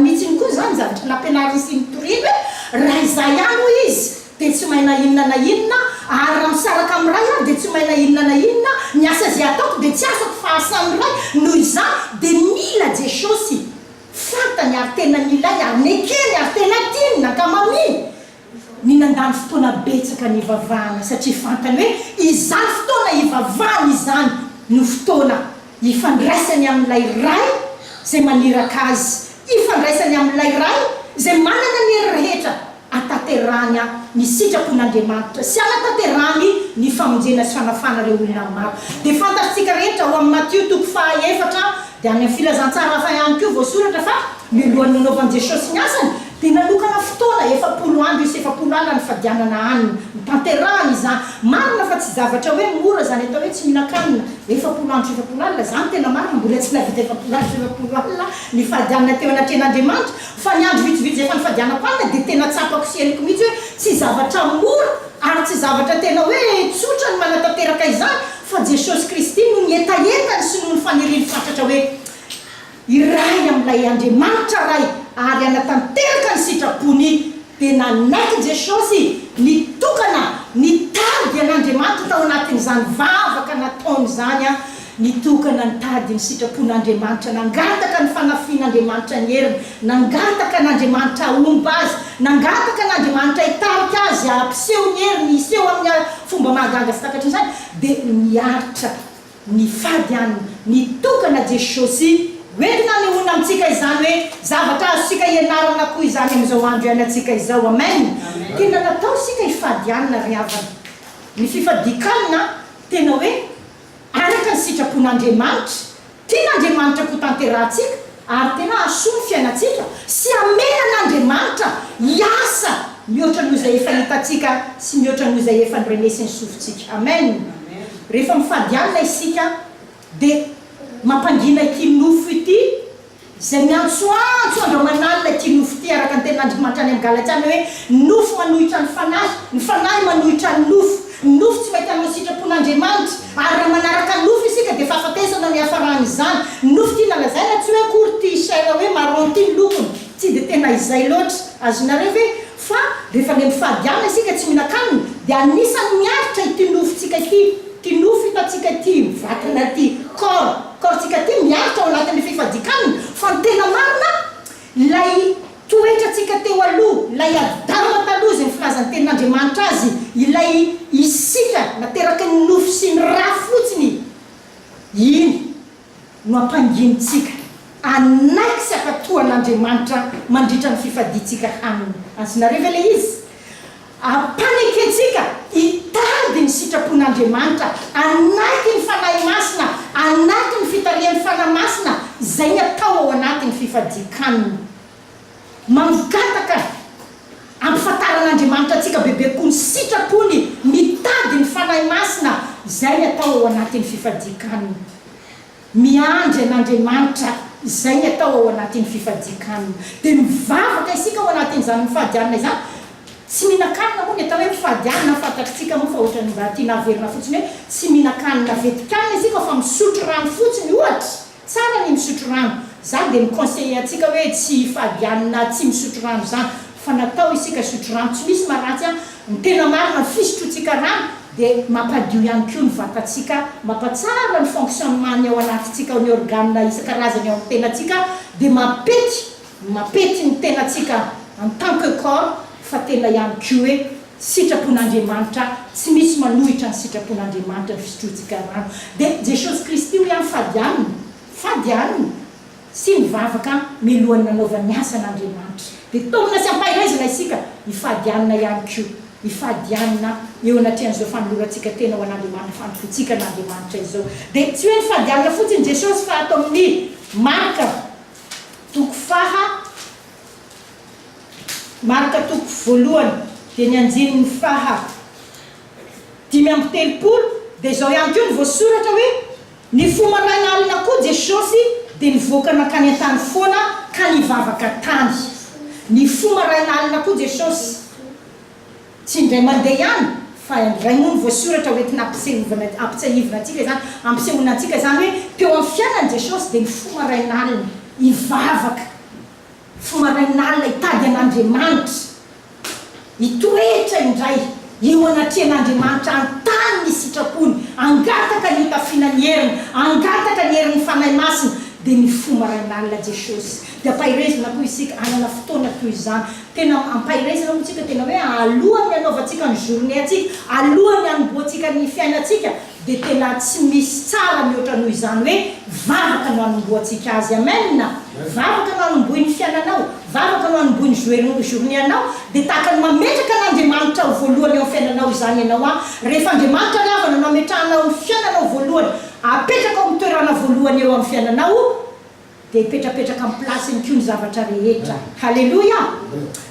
Mitsiny koa izany izany tokony ampianariny sy mitoriany hoe raha izaho ihany hoy izy dia tsy may na inona na inona ary raha misaraka amin'ny ray aho dia tsy may na inona na inona, ny asa izay ataoko dia tsy asako fa asan'ny ray noho izany dia mila Jesosy fantany ary tena milay ary nekeny ary tena tiany ny ankamamiany Ny nandany fotoana betsaka nivavahana satria fantany hoe izany fotoana hivavahany izany no fotoana hifandraisany amin'ilay Ray izay maniraka azy, hifandraisany amin'ilay Ray izay manana ny hery rehetra hatanterahany ny sitrapon'Andriamanitra sy hanatanterahany ny famonjena sy fanafahana ireo olona maro. Dia fantatrtsika rehetra ao amin'ny Matio toko faha efatra dia any amin'ny Filazantsara hafa ihany koa voasoratra fa. Mialohan'ny nanaovan'i Jesosy ny asany, dia nanokana fotoana efapolo andro sy efapolo alina nifadianana hanina. Notanterahany izany. Marina fa tsy zavatra hoe mora izany atao hoe tsy mihinan-kanina efapolo andro sy efapolo alina izany. Tena marina, mbola tsy nahavita efapolo andro sy efapolo alina nifady hanina teo anatrehan'Andriamanitra. Fa ny andro vitsivitsy izay efa nifadianam-panina dia tena tsapako sy henoko mihitsy hoe tsy zavatra mora ary tsy zavatra tena hoe tsotra ny manatanteraka izany. Fa Jesosy Kristy no nihetaheta ny sinoa ny faniriany fatratra hoe, Iray amin'ilay Andriamanitra Ray ary hanatanteraka ny sitrapony. Dia nanaiky Jesosy ny tokana nitady an'Andriamanitra tao anatin'izany vavaka nataony izany. Ny tokana nitady ny sitrapon'Andriamanitra, nangataka ny fanafihin'Andriamanitra ny heriny, nangataka an'Andriamanitra hahomba azy, nangataka an'Andriamanitra hitarika azy hampiseho ny heriny, hiseho amin'ny fomba mahagaga sy takatrin'izany, dia niaritra. Nifady an ny tokana Jesosy hoe hanehoana amintsika izany hoe zavatra azontsika ianarana koa izany amin'izao andro iainantsika izao. Amen. Tena natao isika hifady an ry havana. Ny fifadikan tena hoe araka ny sitrapon'Andriamanitra. Tian'Andriamanitra koa tanterahantsika. ary tena hahasoa ny fiainantsika sy hamela an'Andriamanitra hiasa mihoatra noho izay efa hitantsika sy mihoatra noho izay efa norenesin'ny sofintsika. Amen! Rehefa mifady alina isika dia mampangina ity nofo ity izay miantsoantso andro aman'alina ity nofo ity araka ny tenin'Andriamanitra any amin'ny Galatiana hoe nofo manohitra ny fanahy, ny fanahy manohitra ny nofo. Ny nofo tsy mety hanao sitrapon'Andriamanitra, ary raha manaraka ny nofo isika dia fahafatesana no iafaran'izany. Ny nofo tiana lazaina tsy hoe akory ity chair hoe marron ity ny lokony, tsy dia tena izay loatra, azonareo ve? fa rehefa le mifady hanina isika tsy mihinan-kanina dia anisan'ny miaritra ity nofontsika ity, ity nofo hitantsika ity, io vatana ity, corps, corps-tsika ity miaritra ao anatin'ny fifadian-kanina, fa ny tena marina Ilay toetrantsika teo aloha, ilay Adama taloha izay ny filazan'ny Tenin'Andriamanitra azy, ilay isika nateraky ny nofo sy ny ra fotsiny, iny no ampanginintsika hanaiky sy hankatoa an'Andriamanitra mandritra ny fifadiantsika aminy. Azonareo ve ilay izy? Ampanekentsika hitady ny sitrapon'Andriamanitra anaty ny Fanahy Masina, anaty ny fitarihan'ny Fanahy Masina izay ny atao ao anaty ny fifadian-kanina. Mangataka ampifantaran'Andriamanitra antsika bebe kokoa ny sitrapony, mitady ny Fanahy Masina izay ny atao ao anaty ny fifadian-kanina. Miandry an'Andriamanitra izay ny atao ao anatin'ny fifadian-kanina. Dia mivavaka isika ao anatin'izany mifadianina izany. Tsy mihinan-kanina moa ny atao hoe mifadianina, fantatritsika moa fa ohatran'ny mba tiana haverina fotsiny hoe tsy mihinan-kanina vetin-kanina isika fa misotro rano fotsiny ohatra. Tsara ny misotro rano. Izaho dia mi-conseiller antsika hoe tsy hifadianina tsy misotro rano izany. fa natao isika hisotro rano, tsy misy maharatsy an, ny tena marina ny fisotroantsika rano dia mampadio ihany koa ny vatantsika, mampatsara ny fonctionnement ny ao anatintsika ao ny organe isan-karazany ao amin'ny tenantsika dia mampety mampety ny tenantsika en tant que corps fa tena ihany koa hoe sitrapon'Andriamanitra tsy misy manohitra ny sitrapon'Andriamanitra ny fisotroantsika rano dia Jesosy Kristy hoy aho fady aminy fady aminy sy nivavaka milohan'ny nanaovany ny asan' Andriamanitra, dia taomina sy ampahirezina isika hifady hanina ihany koa, hifady hanina eo anatrehan'izao fanolorantsika tena ho an'Andriamanitra, fandofoantsika an' Andriamanitra izao. Dia tsy hoe nifady hanina fotsiny Jesosy fa ato amin'ny Marka toko faha, Marka toko voalohany dia ny andininy faha dimy amby telopolo dia izao ihany koa no voasoratra hoe. Ny fo maraina alina koa Jesosy dia nivoaka nankany an-tany foana ka nivavaka tany. Ny fo maraina alina koa Jesosy. Tsy indray mandeha ihany fa indray moa ny voasoratra hoentina ampisehovina ampitsiahivina antsika izany, ampisehoana antsika izany hoe teo amin'ny fiainany Jesosy dia ny fo maraina alina hivavaka. Fo marain'alina hitady an'Andriamanitra, hitoetra indray eo anatrehan'Andriamanitra, hanontany ny sitrapony, hangataka ny hotafiana ny heriny, hangataka ny herin'ny Fanahy Masina, dia ny fo marain'alina Jesosy. Dia ampaherezina koa isika hanana fotoana toy izany. Tena ampaherezina hoy isika tena hoe alohan'ny hanaovantsika ny journée-ntsika, alohan'ny hanombohantsika ny fiainantsika, dia tena tsy misy tsara mihoatra noho izany hoe vavaka no anombohantsika azy amen vavaka no anombohin'ny fiainanao vavaka no anombohin'ny joe journée anao dia tahaka ny mametraka an'Andriamanitra ho voalohany eo amin'ny fiainanao izany ianao an rehefa Andriamanitra ny havana no ametrahanao ny fiainanao voalohany apetraka ao amin'ny toerana voalohany eo amin'ny fiainanao Dia hipetrapetraka amin'ny place-ny koa ny zavatra rehetra. Haleloia!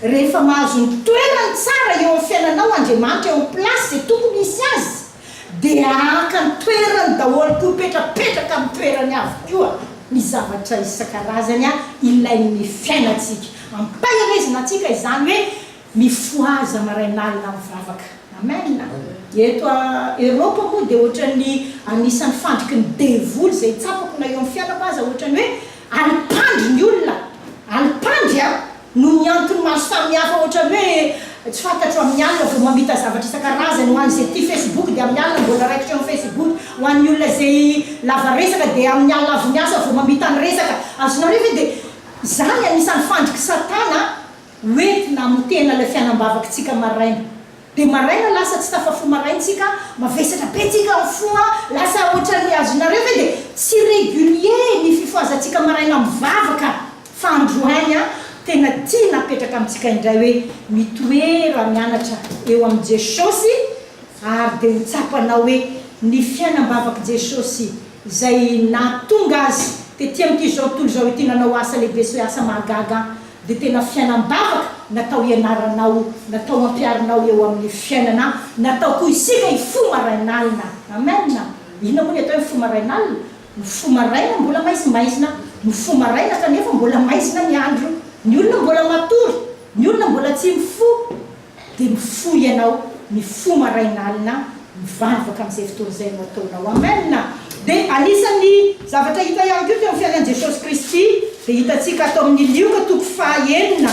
Rehefa mahazo ny toerany tsara eo amin'ny fiainanao Andriamanitra eo amin'ny place izay tokony hisy Azy, dia haka ny toerany daholo koa, hipetrapetraka amin'ny toerany avokoa ny zavatra isan-karazany ilain'ny fiainantsika. Ampahirezina antsika izany hoe, Mifohaza marain'alina mivavaka. Amen. Eto a Eropa moa dia ohatran'ny anisan'ny fandriky ny devoly izay tsapako na eo amin'ny fianako aza ohatran'ny hoe alimpandry ny olona. Alimpandry a! Noho ny antony maro samihafa ohatran'ny hoe tsy fantatro amin'ny alina vao mamita zavatra isan-karazany ho an'izay tia Facebook dia amin'ny alina mbola raikitra eo amin'ny Facebook ho an'ny olona izay lava resaka dia amin'ny alina avy miasa vao mamita ny resaka. Azonareo ve? Dia izany anisan'ny fandriky Satana. Revy namotena ilay fianambavak tsika maraina de maraina lasa tsy tafa fo marain tsika mavesatra be tsika ny fo a lasa otran ny azonareo ve de tsy regulier ny fifohazan tsika maraina mivavaka fa androany a tena tia napetraka amin tsika indray hoe mitoera mianatra eo amin jesosy ary de ho tsapanao hoe ny fianambavak jesosy izay nahatonga azy tety amin ty zao tontolo izao ity nanao asa lehibe sy asa mahagaga dia tena fiainam-bavaka natao hianaranao, natao hampiharinao eo amin'ny fiainana, natao koa isika hifoha marain'alina. Amen! Inona moa ny atao hoe mifoha marain'alina? Mifoha maraina mbola maizimaizina, mifoha maraina kanefa mbola maizina ny andro, ny olona mbola matory, ny olona mbola tsy mifoha, Dia mifoha ianao mifoha maraina alina mivavaka amin'izay fotoana izay no ataonao. Amen. Dia anisan'ny zavatra hita ihany koa teo amin'ny fiainan'i Jesosy Kristy dia hitantsika ato amin'ny Lioka toko faha enina,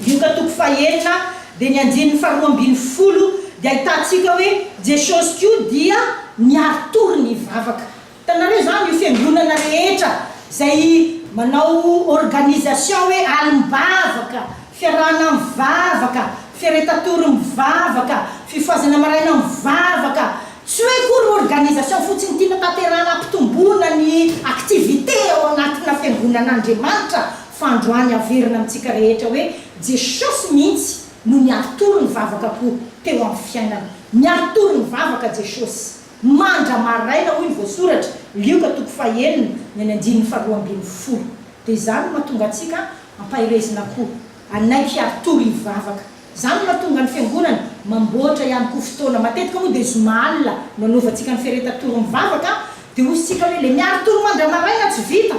Lioka toko faha enina dia ny andininy faha roa ambin'ny folo dia ahitantsika hoe Jesosy koa dia niari-tory nivavaka. Hitanareo izany, io fiangonana rehetra izay manao organisation hoe alim-bavaka, fiarahana mivavaka, fiaretatory mivavaka, fifohazana maraina mivavaka, tsy hoe akory organisation fotsiny tiana tanterahana hampitomboana ny activité ao anatina fiangonan'Andriamanitra fa androany averina amintsika rehetra hoe Jesosy mihitsy no niaritory ny vavaka-po teo amin'ny fiainana. Niaritory ny vavaka Jesosy. Mandra maraina hoy ny voasoratra, Lioka toko fahenina ny any andininy faharoa ambin'ny folo. Dia izany no mahatonga antsika hampaherezina koa anay mpiaro tory hivavaka. Izany no mahatonga ny Fiangonana mamboatra ihany koa fotoana. Matetika moa dia zoma alina no anaovantsika ny fiaretan-tory mivavaka. Dia hoy isika hoe, ilay miaro tory mandra maraina tsy vita.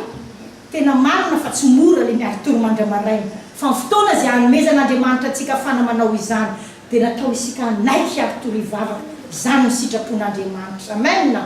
Tena marina fa tsy mora ilay miaro tory mandra maraina. Fa ny fotoana izay hanomezan'Andriamanitra antsika ahafana manao izany. Dia natao isika hanaiky ary tory vava izany ny sitrapon'Andriamanitra. Amen.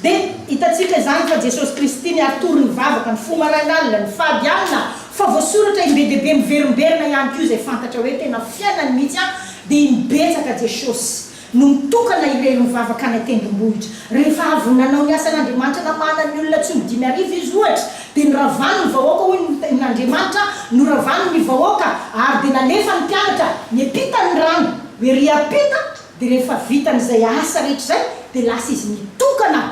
Dia hitantsika izany fa Jesosy Kristy ny aritory ny vavaka, ny fo marain'alina, ny fady alina, fa voasoratra im-be dia be miverimberina ihany koa izay fantatra hoe tena fiainany mihitsy an, dia iny betsaka Jesosy no mitokana hirely ny vavaka any an-tendrombohitra. Rehefa avy nanao ny asan'Andriamanitra namahana ny olona tsy ho dimy arivo izy ohatra, Dia noravany ny vahoaka, hoy ny Ten Andriamanitra, noravany ny vahoaka, ary dia nalefan'ny mpianatra ny ampitany ny rano, hoe ery ampita, dia rehefa vitany izay asa rehetra izay, dia lasa izy nitokana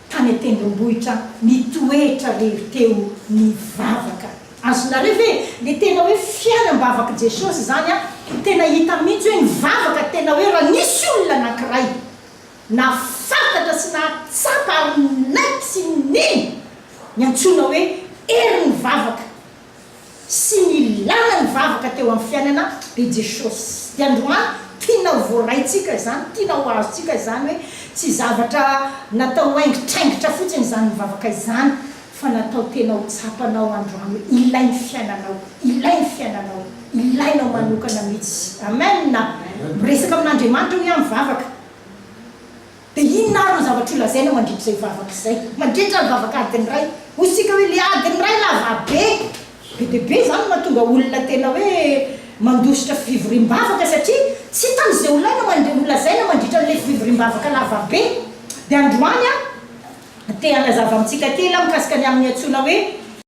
tany an-tendrombohitra, nitoetra lery teo nivavaka. Azonareo ve? Dia tena hoe fiainam-bavak'i Jesosy izany an! Tena hita mihitsy hoe nivavaka tena hoe raha nisy olona anankiray. Nahafantatra sy nahatsapa ary ninaiky sy nino ny antsoina hoe herin'ny vavaka sy ny ilàna ny vavaka teo amin'ny fiainana be Jesosy. Dia androany tiana ho voaraintsika izany, tiana ho azontsika izany hoe tsy zavatra natao haingitraingitra fotsiny izany mivavaka izany. fa natao tena ho tsapanao androany hoe ilay ny fiainanao, ilay ny fiainanao, ilainao manokana mihitsy. Amen! Miresaka amin'Andriamanitra hoy aho mivavaka. Dia inona ary no zavatra ho lazainao mandritra izay vavaka izay, mandritra ny vavak'adiny iray? Hoy isika hoe ilay adiny iray lava be, Be dia be izany no mahatonga olona tena hoe mandositra fivoriam-bavaka satria tsy hitany izay ho laina man- holazaina mandritra an'ilay fivoriam-bavaka lava be. Dia androany aho te hanazava amintsika kely aho mikasika ny amin'ny antsoina hoe.